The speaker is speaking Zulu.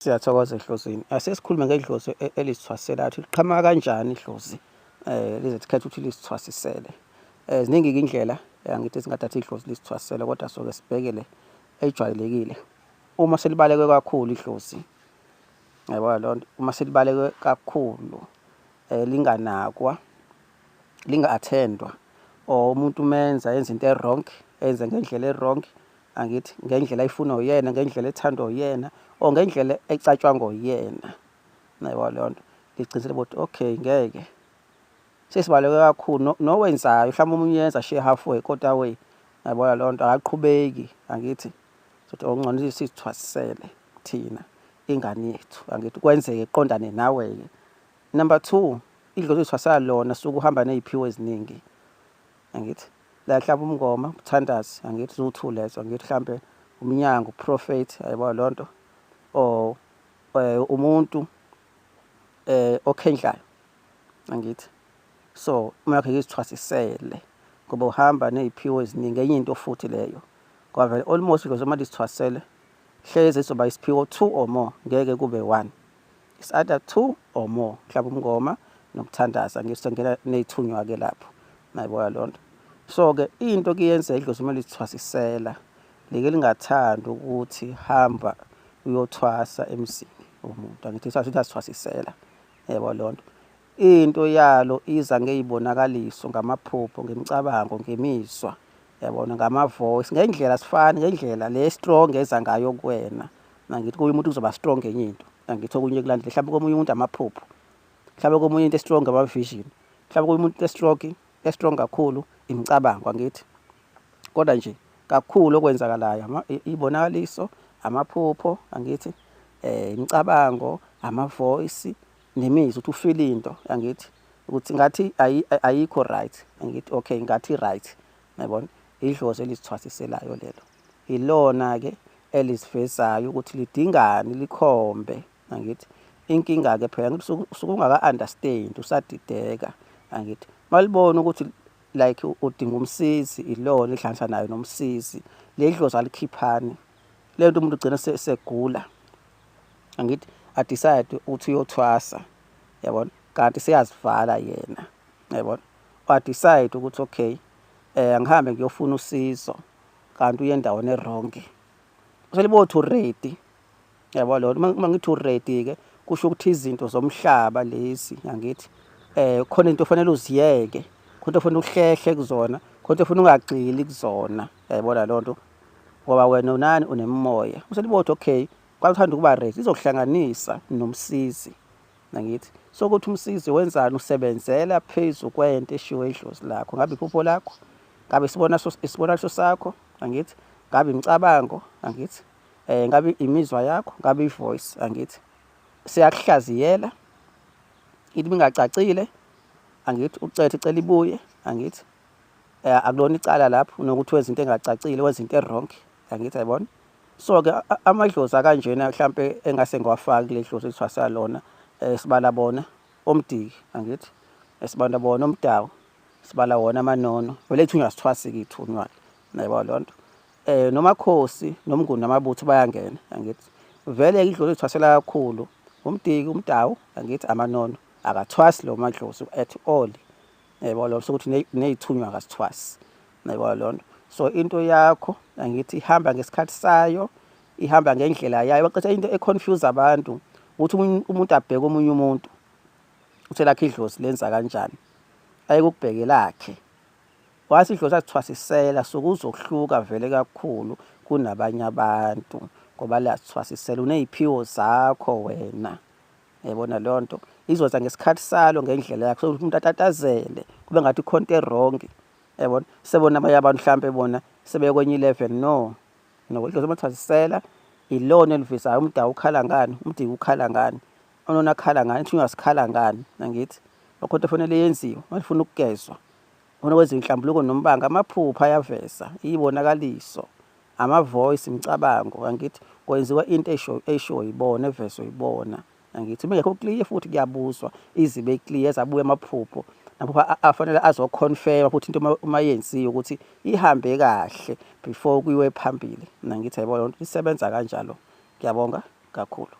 Siyathokoza ehlozini. Asesikhulume ngedlozi e-, elisithwasela ukuthi liqhamuka kanjani idlozi eh lize sikhethe ukuthi lisithwasisele. Eh ziningi indlela eh, angithi singathatha idlozi lisithwasisele kodwa soke sibhekele ejwayelekile. Uma selibaleke kakhulu idlozi yabo lonto uma selibaleke kakhulu eh linganakwa linga-attendwa or umuntu umenza enza into e-wrong enze ngendlela e-wrong angithi ngendlela ayifuna uyena ngendlela ethandwa uyena or ngendlela ecatshwa ngoyena nayiwa leyo nto ngiqinisele ukuthi okay ngeke sesibaleke kakhulu nowenzayo mhlawumbe omunye yenza she halfway kodwa way yabona leyo nto akaqhubeki angithi sothi okungcono oh, sithwasisele thina ingane yethu angithi kwenzeke qondane nawe-ke number two idlozi lithwasela lona suke uhamba ney'phiwo eziningi angithi la mhlawumbe umngoma umthandazi angithi zuthu lezo angithi mhlawumbe umnyango prophet ayibo lonto or eh, umuntu eh okhendlayo angithi so uma yakhe izithwasisele ngoba uhamba neziphiwo eziningi enye into futhi leyo ngoba vele almost lezo mali izithwasele hleze izoba isiphiwo two or more ngeke kube one it's either two or more mhlawumbe umngoma nokuthandaza ngisongela neyithunywa ke lapho nayibona lonto so ke into kuyenza idlozi uma lithwasisela leke lingathanda ukuthi hamba uyothwasa emzini womuntu angithi sathi asithwasisela yebo lonto into yalo iza ngeyibonakaliso ngamaphupho ngemicabango ngemizwa yabona ngamavoice ngendlela sifani ngendlela le strong eza ngayo kuwena nangithi kuye umuntu kuzoba strong ngenye into nangithi okunye kulandile mhlawumbe komunye umuntu amaphupho mhlawumbe komunye into estrong ama-vision mhlawumbe komunye umuntu estrong estrong kakhulu imicabango angithi kodwa nje kakhulu okwenzakalayo ibonakaliso amaphupho angithi eh imicabango amavoice nemizwa ukuthi ufile into angithi ukuthi ngathi ayikho right angithi okay ngathi right yabona idlozi elisithwasiselayo lelo Ilona-ke elizifezayo ukuthi lidingani likhombe angithi inkinga-ke phela ngithi usuke ungaka-understand usadideka angithi malibona ukuthi like udinga umsizi ilona ihlanganisa nayo nomsizi ledlozi alikhiphani le nto umuntu ugcina segula angithi adecide ukuthi uyothwasa yabona kanti seyazivala yena yabona wadecide ukuthi okay um ngihambe ngiyofuna usizo kanti uye endaweni erongi selibo to ready yabo lona uma ngithi ready ke kusho ukuthi izinto zomhlaba lezi yangithi eh khona into ofanele uziyeke khona ufuna ukuhlehle kuzona khona ufuna ungagxili kuzona yayibona lonto ngoba wena unani unemimoya uselibo okay kwakuthanda ukuba ready izokuhlanganisa nomsizi nangithi sokuthi umsizi wenzani usebenzela phezu kwento eshiwo idlozi lakho ngabe iphupho lakho ngabe isibona isibonaliso sakho angithi ngabe imicabango angithi eh ngabe imizwa yakho ngabe ivoice angithi siyakuhlaziyela into ingacacile angithi ucethe cela ibuye angithi eh, akulona icala lapho nokuthi wenza into engacacile wenza into ewrong angithi ayibona so-ke amadlozi akanjena mhlampe engase ngiwafaki kule dlozi kuthiwa salona um sibala bona omdiki angithi esibanda bona omdawu sibala wona amanono vele ithunywa sithwasike ithunywa nayiba loo nto um nomakhosi nomnguni namabutho bayangena angithi vele-ke idlozi lithwasela kakhulu umdiki umdawu angithi amanono akathwasi lo madlozi at all yebo lona sokuthi nezithunywa kasithwasi yebo lona so into yakho angithi ihamba ngesikhathi sayo ihamba ngendlela yayo baqethe into econfuse abantu ukuthi umuntu abheke omunye umuntu uthe lakhe idlozi lenza kanjani ayeke ukubheke lakhe wathi idlozi asithwasisela sokuzohluka vele kakhulu kunabanye abantu ngoba liyasithwasisela uney'phiwo zakho wena yabona leyo nto izoza ngesikhathi salo ngendlela yakho sokuthi umuntu atatazele kube ngathi ikhonto erong yabona sebona abanye abantu mhlawumpe bona sebekwenye i-level no nokuhloza amathazisela ilona elivisayo umdawu ukhala ngani umdiki ukhala ngani onona akhala ngani ithunywa sikhala ngani nangithi lokho nto fanele yenziwe malifuna ukugezwa khona kwenziwa inhlambuluko nombanga amaphupha ayaveza iyibonakaliso amavoice imicabango angithi kwenziwa into esho esho yibona evezo yibona angithi bengekho clear futhi kuyabuzwa izibe clear zabuya amaphupho lapho afanele azoconfirm futhi into uma yenziwe ukuthi ihambe kahle before kuyiwe phambili mina ngithi yayibona lento isebenza kanjalo ngiyabonga kakhulu